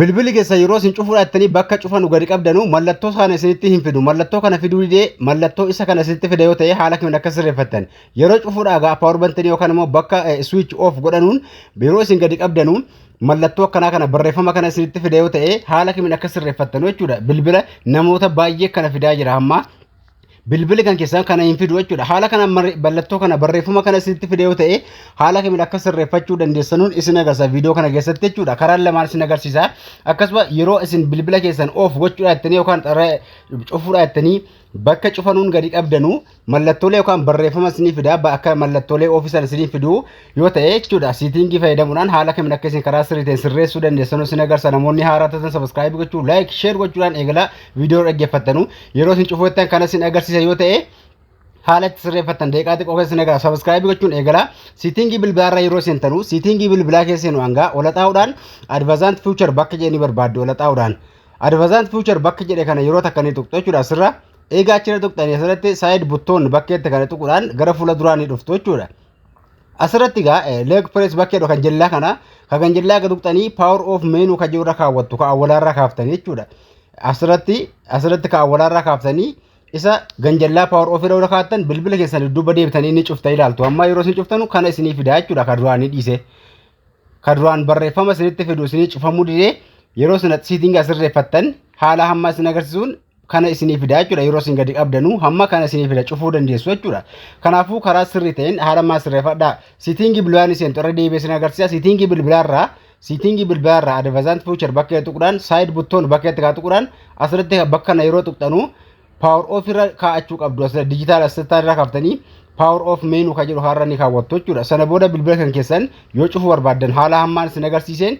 Bilbilli keessan yeroo isin cufuudha jettanii bakka cufa nu gadi qabdanu mallattoo sana isinitti hin fidu. Mallattoo kana fiduu didee mallattoo isa kana isinitti fida yoo ta'e haala kamiin akka sirreeffattan. Yeroo cufuudha egaa power bantanii yookaan immoo bakka switch off godhanuun yeroo isin gadi qabdanu mallattoo akkanaa kana barreeffama kana isinitti fida yoo ta'e haala kamiin akka sirreeffattanu jechuudha. Bilbila namoota baay'ee kana fidaa jira amma. bilbili kan keessan kana hin fidu jechuudha. Haala kana mallattoo kana barreeffama kana isinitti fide yoo ta'e haala kamiin akka sirreeffachuu dandeessanuun isin agarsiisa viidiyoo kana keessatti jechuudha. Karaa lamaan isin agarsiisa. Akkasuma yeroo isin bilbila keessan oof gochuudhaa jettanii yookaan cufuudhaa jettanii bakka cufanuun gadi qabdanu mallattoolee yookaan barreeffama isinii fida akka mallattoolee oofii sana isinii fidu yoo ta'e jechuudha siitiingii fayyadamuudhaan haala kamiin akka isin karaa sirrii ta'een sirreessuu dandeessan isin agarsiisa namoonni haaraa taatan sabiskiraayib gochuu laayik sheer gochuudhaan eegalaa viidiyoo dhaggeeffattanu yeroo isin cufuuttan kan isin agarsiisa yoo ta'e haala itti sirreeffattan deeqaa xiqqoo keessa isin agarsiisa sabiskiraayib gochuun eegalaa siitiingii bilbilaarra yeroo seentanu siitiingii bilbilaa keessa seenu hangaa ola xaa'uudhaan advazaant fiichar bakka jedhanii barbaaddu ola xaa'uudhaan advazaant fiichar bakka jedhe kana yeroo takka ni tuqxu jechuudha asirra eegaa achirra tuqxanii asirratti saayid buttoon bakkeetti kana tuquudhaan gara fuula duraa ni dhuftu jechuudha. Asirratti egaa leg press bakkeedha kan jellaa kana kan kan jellaa gad tuqxanii power of menu kan jirurra kaawwattu kan awwalaarraa kaaftanii jechuudha. Asirratti asirratti kan awwalaarraa kaaftanii isa ganjallaa power of irra kaattan bilbila keessan dudduuba deebitanii ni cuftan ilaaltu. Amma yeroo isin cuftanu kana isinii fidaa jechuudha kan duraan ni dhiise. Kan duraan barreeffama isinitti fidu isinii cufamuu didee yeroo isin siitinga sirreeffattan haala hamma isin agarsiisuun kana isinii fidaa jechuudha yeroo isin gadi qabdanuu hamma kana isinii fida cufuu dandeessu jechuudha kanaafuu karaa sirrii ta'een haala maa sirreeffadhaa siitiingii bilbilaa ni seentu irra deebi'ee isin agarsiisa siitiingii bilbilaarraa siitiingii bilbilaarraa advazaant fuuchar bakka tuqudhaan saayid buttoon bakka itti kaa tuqudhaan asirratti bakka kana yeroo tuqxanuu paawar oof irra kaa'achuu qabdu asirra dijitaal asirraa irra kaaftanii paawar oof meenuu kan jedhu har'a ni kaawwattu jechuudha sana booda bilbila kan keessan yoo cufuu barbaaddan haala hammaan isin agarsiiseen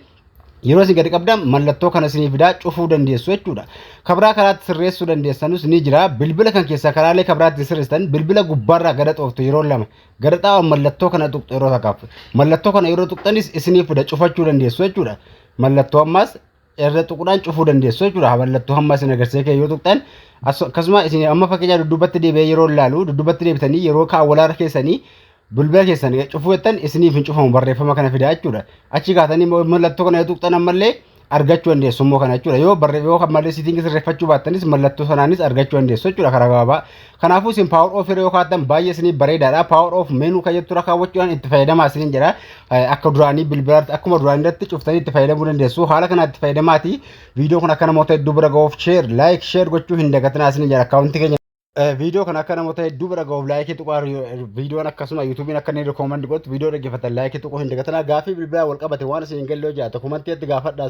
Yeroo isin gadi qabdan mallattoo kana isinii fidaa cufuu dandeessu jechuudha. Kabraa karaatti sirreessuu dandeessanus ni jira. Bilbila kan keessaa karaalee kabraatti sirreessitan bilbila gubbaarraa gada xooftu yeroo lama gada xaa'u mallattoo kana tuqxu yeroo takkaaf. Mallattoo kana yeroo tuqxanis isinii fida cufachuu dandeessu jechuudha. Mallattoo ammaas irra tuqudhaan cufuu dandeessu jechuudha. Mallattoo hamma isin agarsiisee kee yoo tuqxan akkasuma isin amma fakkeenyaa dudduubatti deebi'ee yeroo laalu dudduubatti deebitanii yeroo kaawwalaara keessanii Bilbila keessan cufuu jettan isiniif hin cufamu barreeffama kana fidaa jechuudha. Achi kaatanii immoo mallattoo kana yoo tuqxan ammallee argachuu dandeessu immoo kana jechuudha. Yoo barre yoo ammallee siitingi sirreeffachuu baattanis mallattoo sanaanis argachuu dandeessu jechuudha karaa gabaabaa. Kanaafuu isin power off irra yoo kaattan baay'ee isiniif bareedaadha. Power off menu kan jettu irra kaawwachuudhaan itti fayyadamaa isiniin jedha. Eh, Akka duraanii bilbila akkuma duraanii irratti cuftanii itti fayyadamuu dandeessu. Haala kanaan itti fayyadamaati. Viidiyoo kun akka namoota hedduu bira ga'uuf share, like, share gochuu hin dagatinaa isiniin jedha. Akkaawuntii keenya Viidiyoo kana akka namoota hedduu bira gahuuf laayikii tuqaa viidiyoon akkasuma yuutuubiin akka inni rikoomendi godhu viidiyoo dhaggeeffatan laayikii tuquu hin dagatinaa gaaffii bilbilaa wal qabate waan isin hin galle yoo jiraate komantiitti gaafadhaa.